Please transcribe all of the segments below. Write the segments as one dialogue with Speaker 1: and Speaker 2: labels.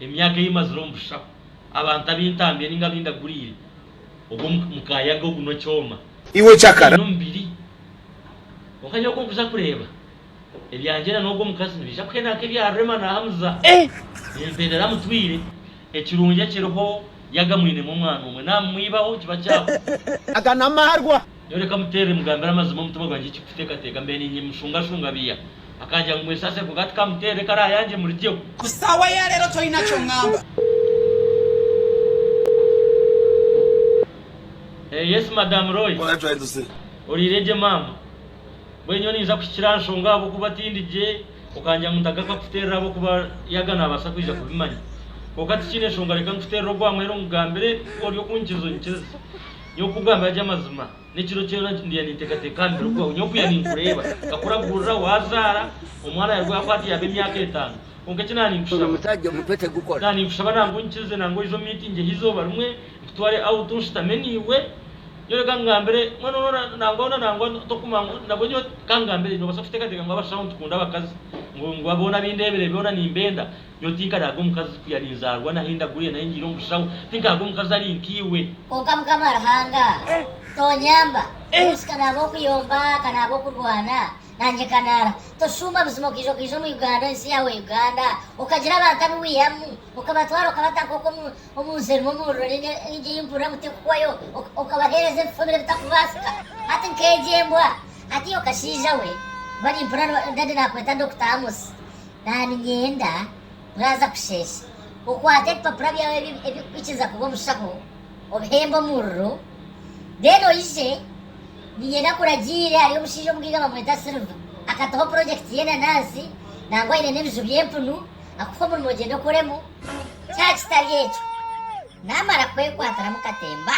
Speaker 1: Emyaka ei mazire omu busishaho, abantu abu ntambire ninga abu ndaguriire, ogu omu mukayaga ogu n'okyoma. Iwe okyakara. Aine omubiri. Kwonka nyowe oku nkuza kureeba, ebyangye na n'ogu omukazi nibiija kuhenda nk'ebya Rema na Hamza. Nimpendera amutwire. Ekirungi ekiriho, yaaba amwinemu omwana omwe, naamumwibaho, kiba kyabuze. Aga n'amarwa. Nyowe reka muteerere mugambire amazima omutima gwangye eki kuteekateeka mbe niinyemushungashunga biiya. Akangira ngu mwesasire kwonka tikamuteerere reka araayangye murigyeho. Ku saawa ya reero toyina kyongamba. Hey yes madam Roy. Alright trying to say. Oriire gye maama. Mbwenu nyowe niinza kuhikira aha nshonga ahabw'okuba tindi gye, okangira ngu ntagaruka kukuteerera ahabw'okuba yaga naabaasa kwija kubimanya. Kwonka tikiine nshonga reka nkuteerere ogwa mweru nkugambire ku ori okunkiza onyikirize. Nyowe kukugambira gye amazima, n'ekiro kyona ndiya ninteekateeka aha mibiri gwawe. Nyowe kuya ninkureeba, nkakuraguurira waazaara, omwana yaaruga yakwata yaaba emyaka etaano. Kwonka eki nda ninkushaba, nda ninkushaba nangwa oinkirize nangwa oije omu miitingi ey'eizooba rimwe, nkutware out nshutame naiwe. Nyowe reka nkugambire, mbwenu noona nangwa hoona nangwa tokuma ngu nabwo nyowe. Ka nkugambire, noobaasa kuteekateeka ngu abashaho nitukunda abakazi, ngu ngu boona abu ndeebire boona nimbenda. Nyowe tinkaraaga omukazi ku yari nzaarwa naha endaguya nahi ngiire omu bushaho. Tinkaraaga omukazi ari nkaiwe. Kwonka Mukama Ruhanga, tonyamba. Urusi ka naaba okuyomba, ka naaba okurwana, nangye nkanaara. Toshuuma buzima okaija okaija omu Uganda, ensi yaawe Uganda, okagira abantu abu wihamu, okabatwara okabata nk'oku omu omu nsi erimu omuriro ninga egi ei mpurira ngu tekukwayo, oka okabaheereza ebifuumiro ebitakubaasika. Hati nk'egi embwa! Hati iwe kashaija we, bari mpurira no dadi naakweta Dokita Amosi. Naaniinyenda waaza kusheesha, okwate ebipapura byawe ebirikukwikiriza kuba omushaho, obihembe omuriro, then oije, niinyenda nkuragiire, hariyo omushaija omugaiga bamweta Silver, akataho project y'enanansi, nangwa aine n'ebiju by'empunu, akuhe omurimo ogyende okoremu, kyaba kitari ekyo, naamara kukwekwatiramu katemba.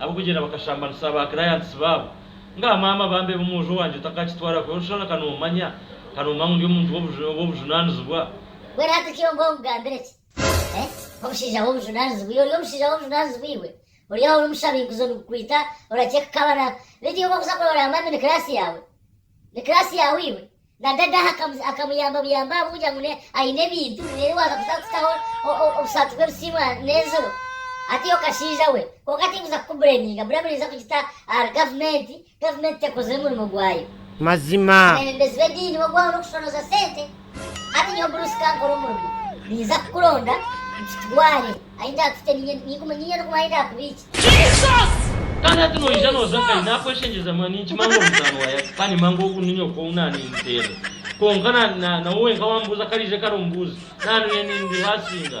Speaker 1: Ab'okugyenda bakashambanisa ba clients baabo. Ngaha maama bambe b'omwojo wangye otakakitwara kubi oshana ka nomanya ka nomanya ngu ndi omuntu w'obujunanizibwa. Gwe rata ki obwe ogambire ki eh omushaija w'obujunanizibwa iwe ori omushaija w'obujunanizibwa iwe ori aho ori omushabinguzo nigukwita oraceeka kabana beitu iwe ku okuza kurora mami ni class yaawe ni class yaawe iwe Na dada akamuyamba buyambi ahabukugira ngu ayine ebintu reero waaza kuza kutaho obusaati bw'ebisiimwa n'enziro ataiha okashaija we. Kwonka tinkuza kukubureminga, buriya muraija kugita ahari gavumenti, gavumenti tekozire murimo gwayo. Mazima. Abeebembezi b'ediini b'ogwaho n'okushoroza sente, hati nyowe Bruce kankore omurimo, ninza kukuronda nkitware ahi ndaakute ninye, ninkume ninye n'okumanya ahi ndaakubiikye. Kandi hati noija nooza nkahi? Naakweshengyereza munonga. Ninkimanya ngu ori mutaano wa Yaaka kandi nimmanya ngu ogu ni nyoka ou naaniiniterera. Kwonka na, na, nawe wenka waambuuza kariija kare ombuuzi. Naanu nyowe ni, ndi haasinga.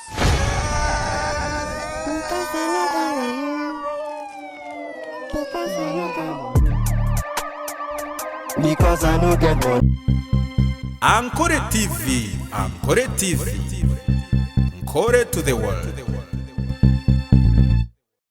Speaker 1: Ankore TV Ankore TV Nkore to the world.